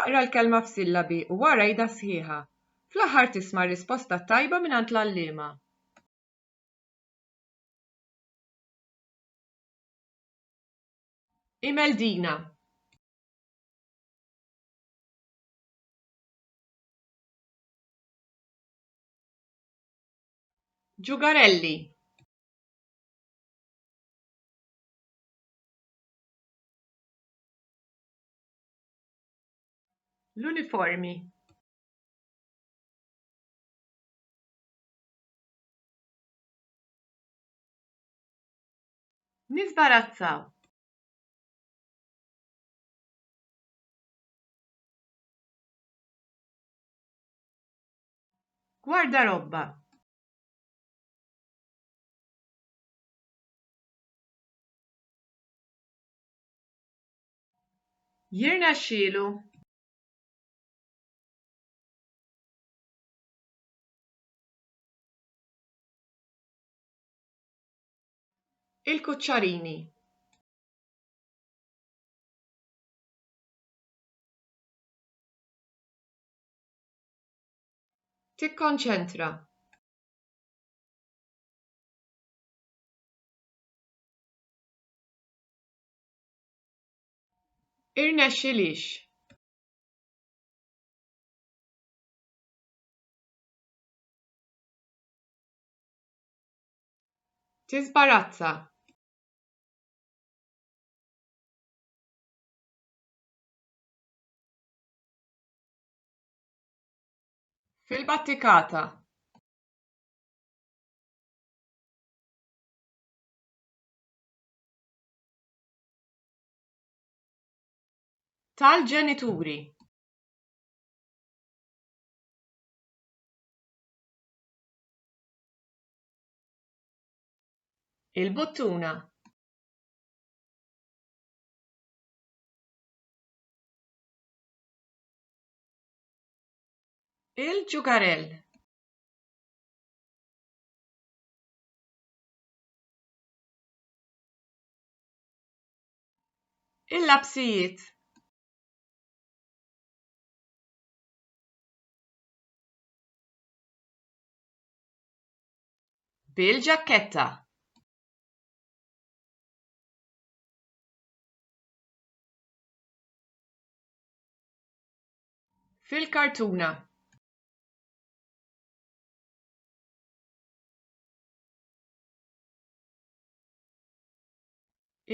Aqra l-kelma f'sillabi u wara jidha sħiħa. Fl-aħħar tisma' r-risposta tajba mingħand l-għalliema. Imel Dina. Ġugarelli. L-uniformi Nizbarazzaw. Guarda robba. Jirnexxielu. Il-kuċċarini. Tikkonċentra. Irnexxilix. Tisbarazza. Fil-battikata. tal-ġenituri il-buttuna il-ġugarell Il-lapsijiet bil-ġakketta fil-kartuna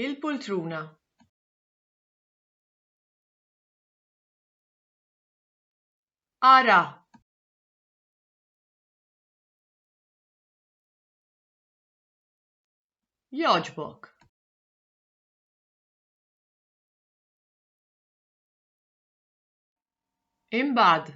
Il-poltruna. Ara. Jogħġbok. Imbagħad.